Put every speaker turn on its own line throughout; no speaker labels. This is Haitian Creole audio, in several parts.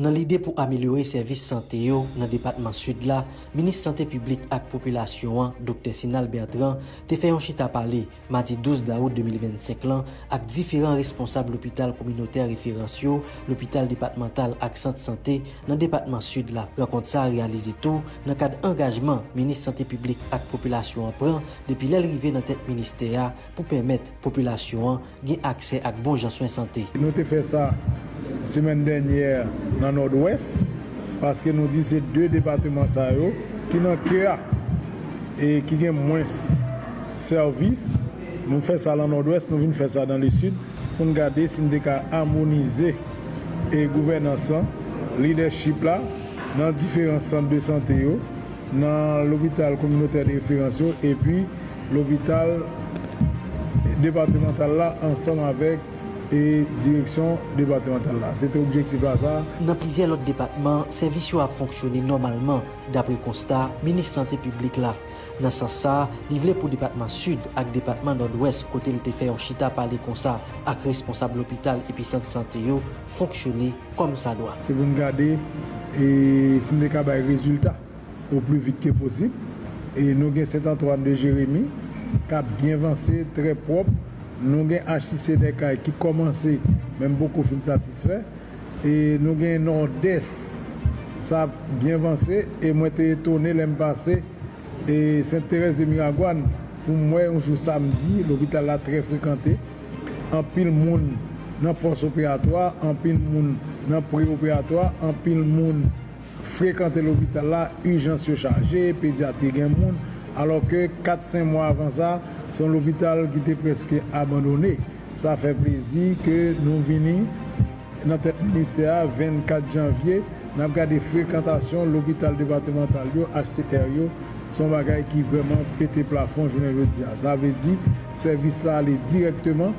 Nan lide pou amelyore sèvis sante yo nan depatman Sid la, minis Sante Piblik ak Popilasyon an, Doktè Sinal Bertrand, te fè yon chita pale madi 12 dawout 2025 lan ak diferan responsab lopital kominotè referans yo, lopital depatmantal ak sant sante nan depatman Sid la. Rankont sa a reyalize tou nan kad angajman minis sante piblik ak popilasyon an pran depi lè l rive nan tèt ministè a pou pèmèt popilasyon an gen aksè ak bon jan swen sante. Nou te fè sa
semèn dènyè nan Nòdwès paske nou di se 2 depateman sa yo ki nan ke a e ki gen mwens Sèvis, Nou fè sa lan Nòdwès, nou vin fè sa dan Lesid pou n gade si n te ka amonize e gouvènans lan, lidèchip la, nan diferan sant de sante yo, nan lopital kominotè de referans yo epi lopital depatemantal la ansanm avèk e direksyon depatemantal la. Se te objektif la sa a. Nan plizyè lòt
depatman, sèvis yo ap fonksyone nòmalman, dapre konsta Minis Sante Piblik la. Nan sans sa, li vle pou depatman Sid ak depatman Nòdwès kote l te fè yon chita pale konsa ak responsab lopital epi sant sante yo fonksyone kòm sa dwa. Se pou n gade
si n te ka bay rezilta o pli vit ke posib. E nou gen Sent Antwàn de Jeremi k ap byen vanse, trè pwòp. Nou gen HIC Dèkay ki kòmanse men m poko fin satisfè. e nou gen Nòdès sa ap byen vanse e mwen te etone lè m pase e Sent Terèz de Miragwàn pou m wè yon jou samdi lopital la trè frekante anpil moun nan pòs operatwa anpil moun nan pre operatwa anpil moun frekante lopital la, ijans yo chaje, pedyatri gen moun, alò ke kat, sen mwa avan sa, se yon lopital ki te prèske abandone. Sa fè plezi ke nou vini nan tèt ministè a 24 janvye, n ap gade frekantasyon lopital depatemantal yo, HCR yo, se yon bagay ki vrèman pete plafon jounen jodi a. Sa vle di, sèvis la ale dirèkteman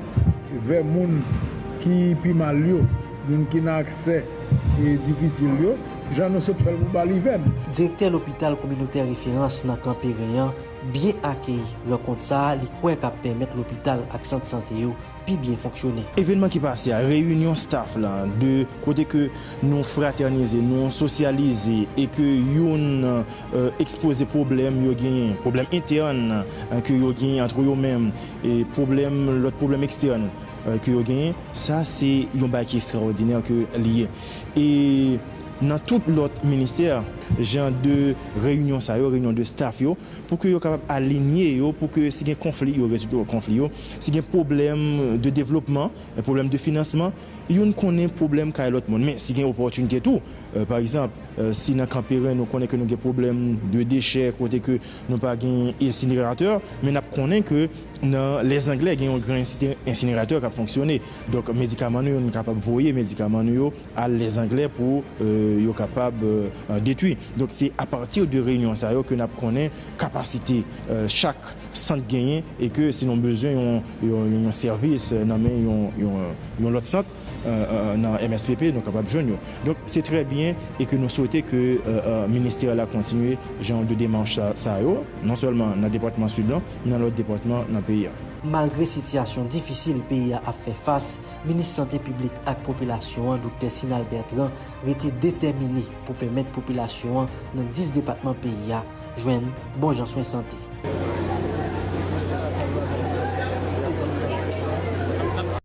vè moun ki pi mal yo, moun ki nan aksè. difisil yo, jan nou sot fè l pou Balivèn. Direktè lopital
kominotè referans nan Kanperen an byen akeyi rankont sa a li kwè k ap pèmèt lopital ak sant sante yo pi byen fonksyone. Evenman ki pase a,
reyinyon staff la, 2 kote ke nou fratènize, nou sosyalize e ke youn ekspoze pwoblèm yo genyen, pwoblèm entèn ke yo genyen antre yo menm e pwoblèm, lòt pwoblèm ekstèn. ke yo genyen, sa se yon bagay ki estrawòdinè ke li ye. E nan tout lòt ministè, jan de reyinyon sa yo, reyinyon de staff yo, pou ke yo kapab alinye yo, pou ke si gen konfli, yo rezoud konfli yo, si gen pwoblèm de devlopman, pwoblèm de finansman, youn konnen pwoblèm kay lòt moun. Men, si gen opòtinite tou, pa egzanp, si nan Kanperen nou konnen ke nou gen pwoblèm de dechè, kote ke nou pa gen ensineratè, men n ap konnen ke, Nan Lèzanglè gen yon gran ensineratè k ap fonksyone. Donk medikaman nou yo, nou kapab voye medikaman nou yo al Lèzanglè pou yo kapab detwi. Donk se apati de reyinyon sa yo ke n ap konnen kapasite chak sant genyen e ke si nou bezwen yon sèvis nan men yon lòt sant, nan MSPP nou kapab jwenn yo. Donk se trè byen e ke nou swete ke ministè la kontinye jan de demach sa yo, non sèlman nan depatman Sid lan, men nan lòt depatman nan peyi a. Malgre sitiyasyon
difisil peyi a ap fè fas, Minis Sante Piblik ak Popilasyon an Doktè Sinal Bertrand rete detèmine pou pèmèt popilasyon an nan 10 depatman peyi a jwenn bon jan swen sante.